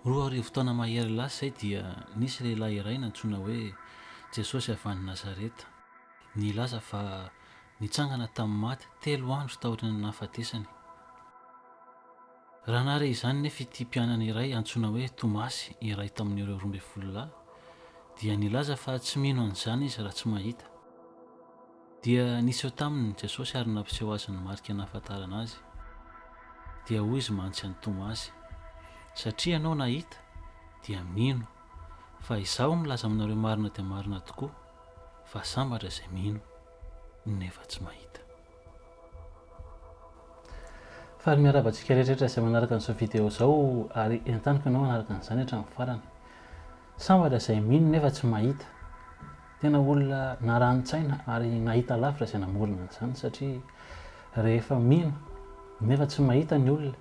Roa arivo taona mahery lasa izay dia nisy lehilahy iray nantsoina hoe Jesosy avy any Nazareta. Nilaza fa nitsangana tamin'ny maty telo andro taorian'ny nahafatesany. Raha nahare izany anefa ity mpianany iray antsoina hoe Tomasy, iray tamin'ireo roa ambin'ny folo lahy, dia nilaza fa tsy mino an'izany izy raha tsy mahita. Dia niseho taminy Jesosy ary nampiseho azy ny marika nahafantarana Azy. Dia hoy Izy mantsy an'i Tomasy, Satria ianao nahita, dia mino. Fa Izaho milaza aminareo marina dia marina tokoa, fa sambatra izay mino, nefa tsy mahita. Faly miarahaba antsika rehetrarehetra izay manaraka an'izao video izao ary entaniko ianao hanaraka an'izany hatramin'ny farany. Sambatra izay mino nefa tsy mahita. Tena olona narani-tsaina ary nahita lavitra izay namorona an'izany satria rehefa mino nefa tsy mahita ny olona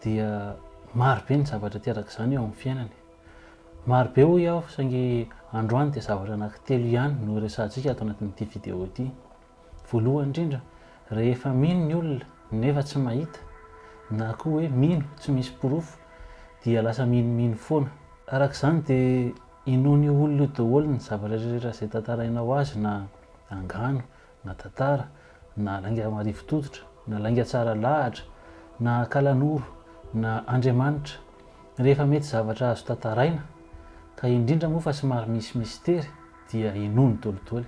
dia maro be ny zavatra aterak'izany eo amin'ny fiainany. Maro be hoy aho saingy androany dia zavatra anankitelo ihany no resahantsika ato anatin'ity video ity. Voalohany indrindra, rehefa mino ny olona nefa tsy mahita, na koa hoe mino tsy misy porofo, dia lasa minomino foana. Araka izany dia inoan'io olona io daholo ny zavatra rehetra izay tantarainao azy na angano, na tantara, na lainga marivo tototra, na lainga tsara lahatra, na akalanoro, na Andriamanitra. Rehefa mety zavatra azo tantaraina, ka indrindra moa fa somary misy mistery, dia inoany dolidoly.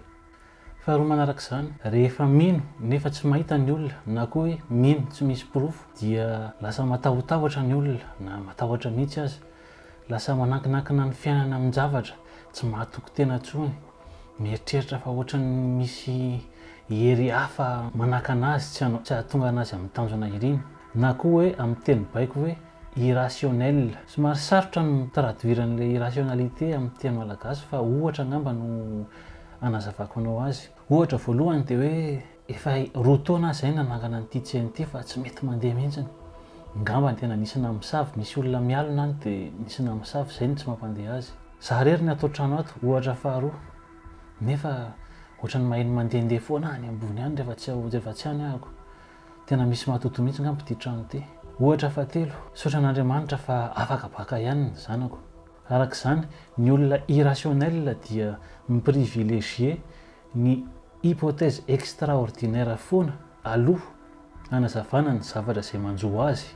Faharoa manaraka izany, rehefa mino nefa tsy mahita ny olona na koa hoe mino tsy misy porofo dia lasa matahotahotra ny olona na matahotra mihitsy aza. Lasa manankinakina ny fiainana amin-javatra, tsy mahatoky tena intsony, mieritreritra fa ohatran'ny misy hery hafa manakana azy tsy hahatonga anazy amin'ny tanjona iriny. Na koa hoe amin'ny teny baiko hoe irrationnel. Somary sarotra ny mi-traduire an'ilay irrationalité amin'ny teny malagasy fa ohatra angamba no. hanazavako anao azy. Ohatra voalohany dia hoe efa roa taona aho izay nanangana an'ity tsena ity fa tsy mety mandeha mihitsy. Ngamba ny tena nisy namosavy, nisy olona mialona any dia nisy namosavy izay no tsy mampandeha azy. Za irery ny ato an-trano ato, ohatra faharoa, nefa ohatran'ny maheno mandehandeha foana any ambony any rehefa tsy ao, rehefa tsy any ahako. Tena misy matodo mihitsy ngamba ity trano ity. Ohatra fahatelo, misaotra an'Andriamanitra fa afaka baka ihany ny zanako. Araka izany, ny olona irrationnel dia mi-privilégier ny hypothèse extraordinaire foana aloha hanazavana ny zavatra izay manjo azy,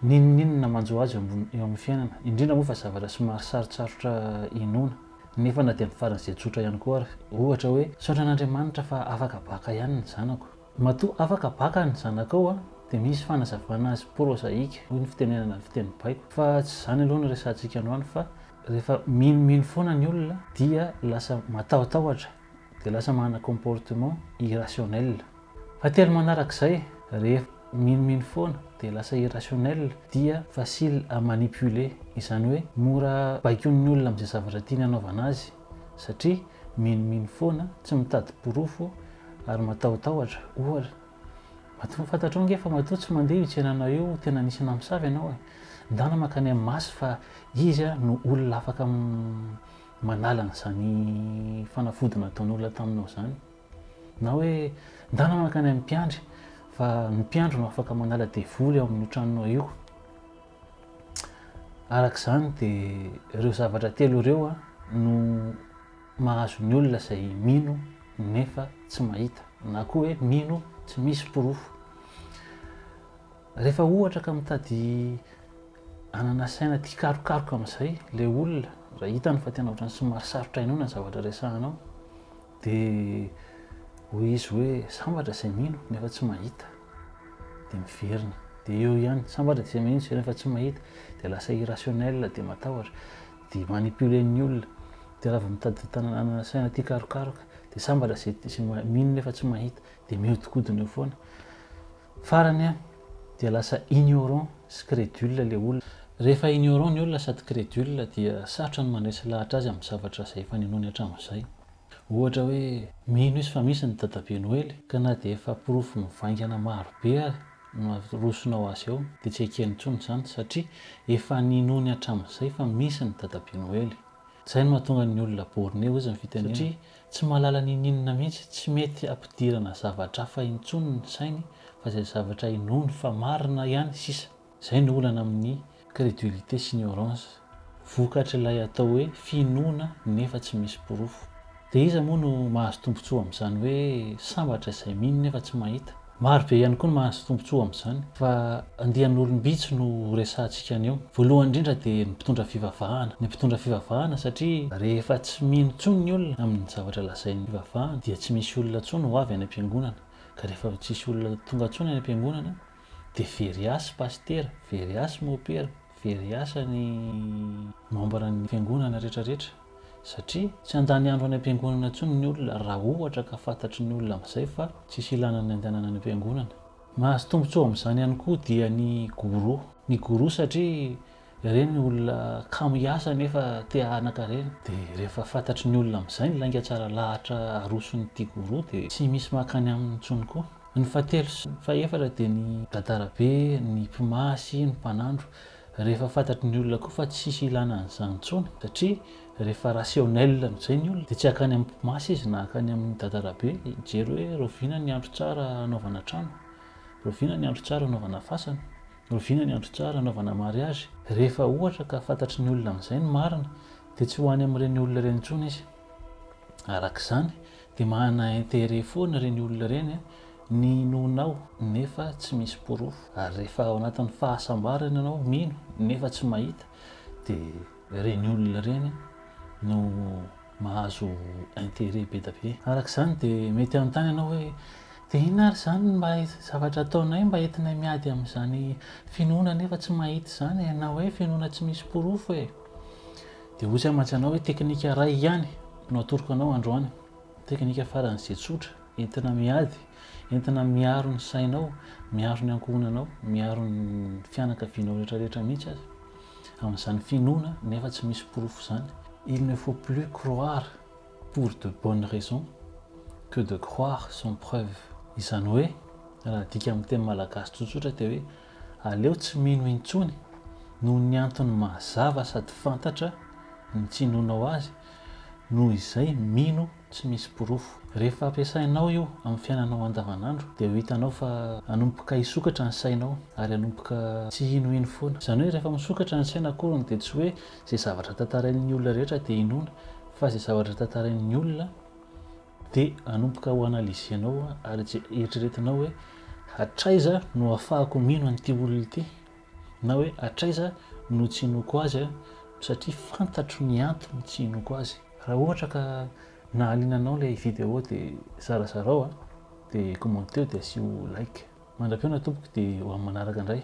n'inon'inona manjo azy eo amin'ny fiainana, indrindra moa fa zavatra somary sarotsarotra inoana, nefa na dia amin'ny faran'izay tsotra ihany koa ary, ohatra hoe, Misaotra an'Andriamanitra fa afaka baka ihany ny zanako. Matoa afaka baka ny zanakao dia misy fanazavana azy prozaika hoy ny fitenenana fiteny baiko fa tsy izany aloha no resahantsika androany fa rehefa minomino foana ny olona dia lasa matahotahotra dia lasa manana comportement irrationnel. Fahatelo manarak'izay rehefa minomino foana dia lasa irrationnel dia facile à manipuler izany hoe mora baikoin'ny olona amin'izay zavatra tiany hanaovana azy. satria minomino foana, tsy mitady porofo ary matahotahotra, ohatra. Matoa fantatrao ange fa matoa tsy mandeha io tsenanao io, tena nisy namosavy ianao e! Ndana mankany amin'ny Maso fa Izy no olona afaka manala an'izany fanafody nataon'olona taminao izany. Na hoe ndana mankany amin'ny mpiandry fa ny mpiandry no afaka manala devoly ao amin'io tranonao io. Araka izany dia ireo zavatra telo ireo no mahazo ny olona izay mino nefa tsy mahita na koa hoe mino tsy misy porofo. Rehefa ohatra ka mitady hanana saina tia karokaroka amin'izay ilay olona raha hitany fa tena ohatran'ny somary sarotra inoana ny zavatra resahanao Dia hoy izy hoe, Sambatra izay mino nefa tsy mahita. Dia miverina. Dia eo ihany, Sambatra izay mino izay nefa tsy mahita. Dia lasa irrationnel, dia matahotra. Dia manipuler ny olona. Dia raha vao mitady tanana saina tia karokaroka. Dia sambatra izay mino nefa tsy mahita. Dia mihodinkodina eo foana. Farany an, dia lasa ignorant sy credule ilay olona. Rehefa ignorant ny olona sady credule dia sarotra ny mandresy lahatra azy amin'ny zavatra izay efa ninoany hatramin'izay. Ohatra hoe. Mino izy fa misy ny Dadabe Noely ka na dia efa porofo mivaingana maro be ary no arosonao azy eo dia tsy ekeny intsony izany satria efa ninoany hatramin'izay fa misy ny Dadabe Noely. Izay no mahatonga ny olona borné hoy izy ny fitenenana. Satria Tsy mahalala n'ininona mihitsy, tsy mety ampidirana zavatra hafa intsony ny sainy fa izay zavatra inoany fa marina ihany sisa. Izay no olana amin'ny credulite sy ignorance, vokatr'ilay atao hoe finoana nefa tsy misy porofo. Dia iza moa no mahazo tombontsoa amin'izany hoe sambatra izay mino nefa tsy mahita? Maro be ihany koa no mahazo tombontsoa amin'izany fa andian'olom-bitsy no horesahantsika anio. Voalohany indrindra dia ny mpitondra fivavahana. Ny mpitondra fivavahana satria rehefa tsy mino intsony ny olona amin'ny zavatra lazain'ny fivavahana dia tsy misy olona intsony ho avy any am-piangonana. Ka rehefa tsisy olona tonga intsony any am-piangonana dia very asa pasitera, very asa mopera, very asa ny membre-n'ny fiangonana rehetra rehetra. satria tsy handany andro any am-piangonana intsony ny olona raha ohatra ka fantatry ny olona amin'izay fa tsisy ilana ny handehanana any am-piangonana. Mahazo tombontsoa amin'izany ihany koa dia ny guru. Ny guru satria ireny olona kamo hiasa nefa te hanan-karena dia rehefa fantatry ny olona amin'izay ny lainga tsara lahatra aroson'ity guru dia tsy misy mankany aminy intsony koa. Ny fahatelo sy fahefatra dia ny gadarabe, ny mpimasy, ny mpanandro. Rehefa fantatry ny olona koa fa tsisy ilana an'izany intsony satria rehefa rationnel amin'izay ny olona dia tsy hakany amin'ny mpimasy izy na hakany amin'ny dadarabe hijery hoe rahoviana ny andro tsara hanaovana trano, rahoviana ny andro tsara hanaovana fasana, rahoviana ny andro tsara hanaovana mariazy. Rehefa ohatra ka fantatry ny olona amin'izay ny marina dia tsy ho any amin'ireny olona ireny intsony izy. Araka izany Dia manana intérêt foana ireny olona ireny a, ny hinoanao nefa tsy misy porofo. Ary rehefa ao anatin'ny fahasambarana ianao mino nefa tsy mahita dia ireny olona ireny no mahazo intérêt be dia be. Araka izany dia mety hanontany ianao hoe, dia inona ary izany no mba zavatra ataonay mba entinay miady amin'izany finoana nefa tsy mahita izany e? Na hoe finoana tsy misy porofo e? Dia ozy aho mantsy anao hoe teknika iray ihany no atoroko anao androany, teknika faran'izay tsotra, entina miady, entina miaro ny sainao, miaro ny ankohonanao, miaro ny fianakavianao rehetrarehetra mihitsy aza, amin'izany finoana nefa tsy misy porofo izany. Il ne faut plus croire pour de bonnes raisons que de croire sans preuves. Izany hoe, raha adika amin'ny teny malagasy tsotsotra dia hoe. Aleo tsy mino intsony noho ny antony mazava sady fantatra ny tsy inoanao azy noho izay mino tsy misy porofo. Rehefa ampiasainao io amin'ny fiainanao andavanandro dia ho hitanao fa hanomboka hisokatra ny sainao ary hanomboka tsy hinohino foana. Izany hoe rehefa misokatra ny saina akoriny dia tsy hoe izay zavatra tantarain'ny olona rehetra dia inoana fa izay zavatra tantarain'ny olona Dia hanomboka ho analyse-nao ary je- eritreretinao hoe hatraiza no hahafahako mino an'ity olona ity na hoe hatraiza no tsy hinoako azy an, satria fantatro ny antony tsy hinoako azy. Raha ohatra ka nahaliana anao ilay vidéo dia zarazarao an, dia commenteo dia asio like. Mandra-pihaona tompoko dia ho amin'ny manaraka indray.